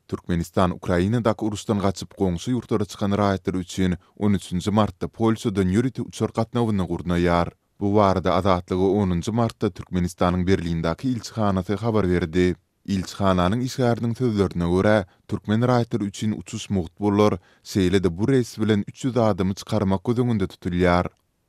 Türkmenistan Ukrainadaky uruşdan gaçyp goňşy ýurtlara çykan raýatlary üçin on üçünji martda Polşadan ýörite uçar gatnawyny gurnaýar. Bu barada Azatlyga onunjy martda Türkmenistanyň Berlindäki ilçihanasy habar berdi. Ilçihananyň işgäriniň sözlerine görä, türkmen raýatlary üçin uçuş mugt bolar, şeýle-de bu reýs bilen üç ýüz adamy çykarmak göz öňünde tutulýar.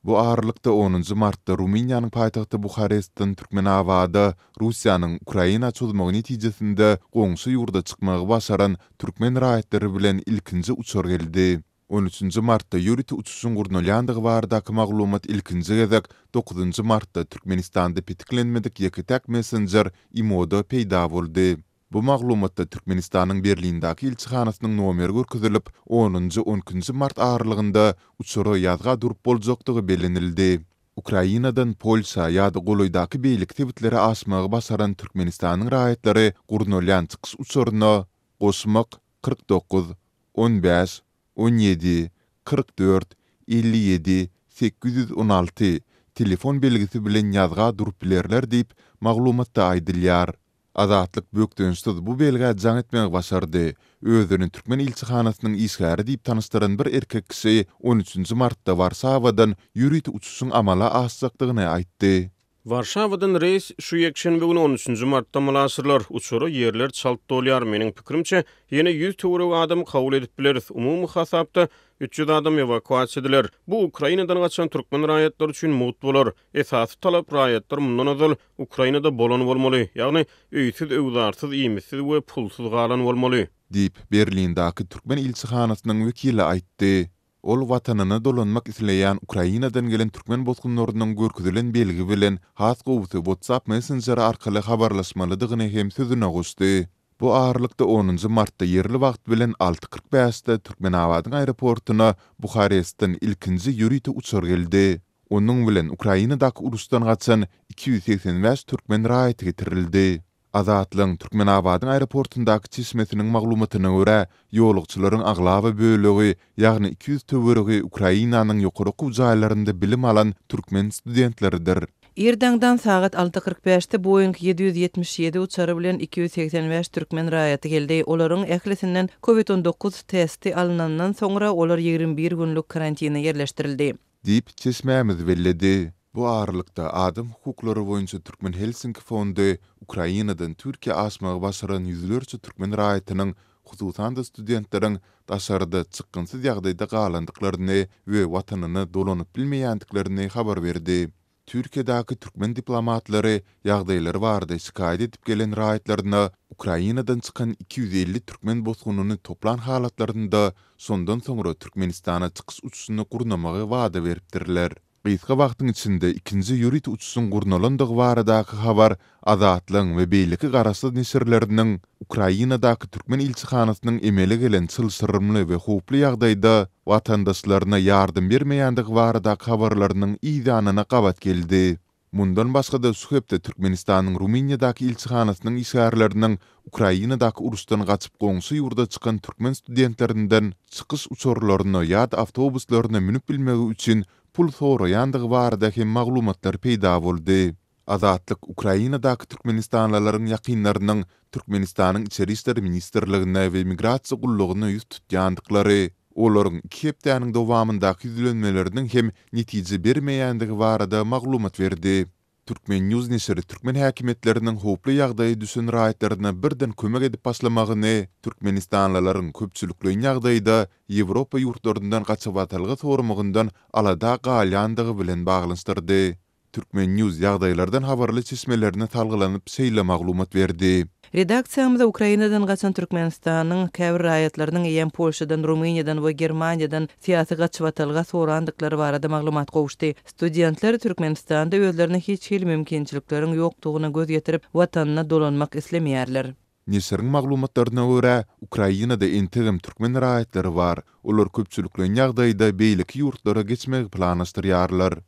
Bu aralykda, onunjy martda Rumyniýanyň paýtagty Buharestden Türkmenabada Russiýanyň Ukraina çozmagy netijesinde goňşy ýurda çykmagy başaran türkmen raýatlary bilen ilkinji uçar geldi. On üçünji martda ýörite uçuşyň gurnalýandygy baradaky maglumat ilkinji gezek dokuzynjy martda Türkmenistanda petiklenmedik ýeke-täk messenjer IMO-da peýda boldy. Bu maglumatda Türkmenistanyň Berlindäki ilçihanasynyň nomeri görkezilip, onunjy, on ikinji mart aralygynda uçara ýazga durup boljakdygy bellenildi. Ukrainadan Polşa ýa-da golaýdaky beýleki sebitlere aşmagy başaran Türkmenistanyň raýatlary gurnalýan çykyş uçaryna goşmak kyrk dokuz, on bäş, on ýedi, kyrk dört, elli ýedi, sekiz ýüz on alty telefon belgisi bilen ýazga durup bilerler diýip, maglumatda aýdylýar. Azatlyk bökdençsiz bu belgä jaň etmegi başardy. Özüni türkmen ilçihanasynyň işgäri diýip tanyşdyran bir erkek kişi on üçünji martda Warşawadan ýörite uçuşyň amala aşjakdygyny aýtdy. Warşawadan reýs şu ýekşenbe güni on üçünji martda amala aşyrylar. Uçara ýerler çalt dolýar. Meniň pikirimçe, ýene ýüz töweregi adamy kabul edip bileris. Umumy hasapda üç ýüz adam ewakuasiýa ediler. Bu Ukrainadan gaçan türkmen raýatlary üçin mugt bolar. Esasy talap raýatlar mundan ozal Ukrainada bolan bolmaly, ýagny öýsüz, öwzarsyz, iýmitsiz we pulsuz galan bolmaly. Diýip, Berlindaky türkmen ilçihanasynyň wekili aýtdy. Ol watanyna dolanmak isleýän Ukrainadan gelen türkmen bosgunlarynyň görkezilen belgi bilen has gowusy WhatsApp messenjeri arkaly habarlaşmalydygyny hem sözüne goşdy. Bu aralykda, onunjy martda ýerli wagt bilen alty kyrk bäşde Türkmenabadyň aeroportuna Buharestden ilkinji ýörite uçar geldi. Onuň bilen Ukrainadaky uruşdan gaçan iki ýüz segsen bäş türkmen raýaty getirildi. Azatlygyň Türkmenabadyň aeroportundaky çeşmesiniň maglumatyna görä, ýolagçylaryň aglaba bölegi, ýagny iki ýüz töweregi Ukrainanyň ýokary okuw jaýlarynda bilim alan türkmen studentleridir. Irdaňdan sagat alty kyrk bäşde Boeing ýedi ýüz ýetmiş ýedi uçary bilen iki ýüz segsen bäş türkmen raýaty geldi. Olaryň ählisinden Covid on dokuz testi alnandan soňra, olar ýigrimi bir günlük karantine ýerleşdirildi. diýip, çeşmämiz belledi. Bu aralykda, adam hukuklary boýunça Türkmen Helsinki fondy Ukrainadan Türkiýä aşmagy başaran ýüzlerçe türkmen raýatynyň, hususan-da studentleriň daşarda çykgynsyz ýagdaýda galandyklaryny we watanyna dolanyp bilmeýändiklerini habar berdi. Türkiýedäki türkmen diplomatlary ýagdaýlary barada şikaýat edip gelen raýatlaryna Ukrainadan çykan iki ýüz elli türkmen bosgunyny toplan halatlarynda, şondan soňra Türkmenistana çykyş uçuşyny gurnamagy wada beripdirler. Gysga wagtyň içinde ikinji ýörite uçuşyň gurnalandygy baradaky habar Azatlygyň we beýleki garaşsyz neşirleriniň Ukrainadaky türkmen ilçihanasynyň emele gelen çylşyrymly we howply ýagdaýda watandaşlaryna ýardam bermeýändigi baradaky habarlarynyň yzýanyna gabat geldi. Mundan başga-da şu hepde Türkmenistanyň Rumyniýadaky ilçihanasynyň işgärleriniň Ukrainadaky uruşdan gaçyp goňşy ýurda çykan türkmen studentlerinden çykyş uçarlaryna ýa-da awtobuslaryna münüp bilmegi üçin pul soraýandygy barada hem maglumatlar peýda boldy. Azatlyk Ukrainadaky türkmenistanlylaryň ýakynlarynyň Türkmenistanyň Içeri işler ministrligine we Migrasiýa gullugyna ýüz tutýandyklary, olaryň iki hepdäniň dowamyndaky ýüzlenmeleriniň hem netije bermeýändigi barada maglumat berdi. Turkmen. News neşiri türkmen häkimiýetleriniň howply ýagdaýa düşen raýatlaryna birden kömek edip başlamagyny, türkmenistanlylaryň köpçülikleýin ýagdaýda Ýewropa ýurtlaryndan gaçybatalga soramagyndan alada galýandygy bilen baglanyşdyrdy. Turkmen. News ýagdaýlardan habarly çeşmelerine salgylanyp şeýle maglumat berdi. Redaksiýamyza Ukrainadan gaçan Türkmenistanyň käbir raýatlarynyň eýýäm Polşadan, Rumyniýadan we Germaniýadan syýasy gaçybatalga sorandyklary barada maglumat gowuşdy. Studentler Türkmenistanda özlerine hiç hili mümkinçilikleriň ýokdugyna göz ýetirip, watanyna dolanmak islemeýärler. Neşiriň maglumatlaryna görä, Ukrainada entegem türkmen raýatlary bar. Olar köpçülikleýin ýagdaýda beýleki ýurtlara geçmegi planlaşdyrýarlar.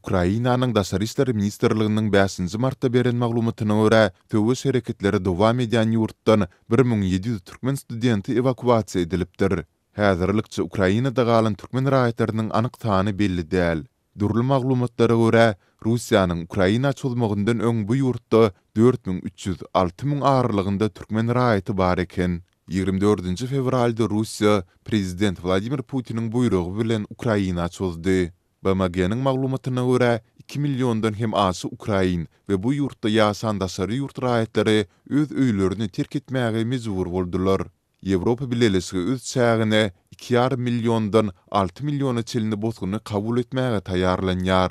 Ukrainanyň Daşary işler ministrliginiň bäşinji martda beren maglumatyna görä, söweş hereketleri dowam edýän ýurtdan bir müň ýedi ýüz türkmen studenti ewakuasiýa edilipdir. Häzirlikçe Ukrainada galan türkmen raýatlarynyň anyk sany belli däl. Dürli maglumatlara görä, Russiýanyň Ukraina çozmagyndan öň bu ýurtda dört müň üç ýüz, alty müň aralygynda türkmen raýaty bar eken. Ýigrimi dördünji fewralda Russiýa prezident Wladimir Putiniň buýrugy bilen Ukraina çozdy. BMG-niň maglumatyna görä, iki milliondan hem aşa ukrain we bu ýurtda ýaşan daşary ýurt raýatlary öz öýlerini terk etmäge mejbur boldular. Ýewropa Bileleşigi öz çägine iki ýarym milliondan alty milliona çenli bosguny kabul etmäge taýýarlanýar.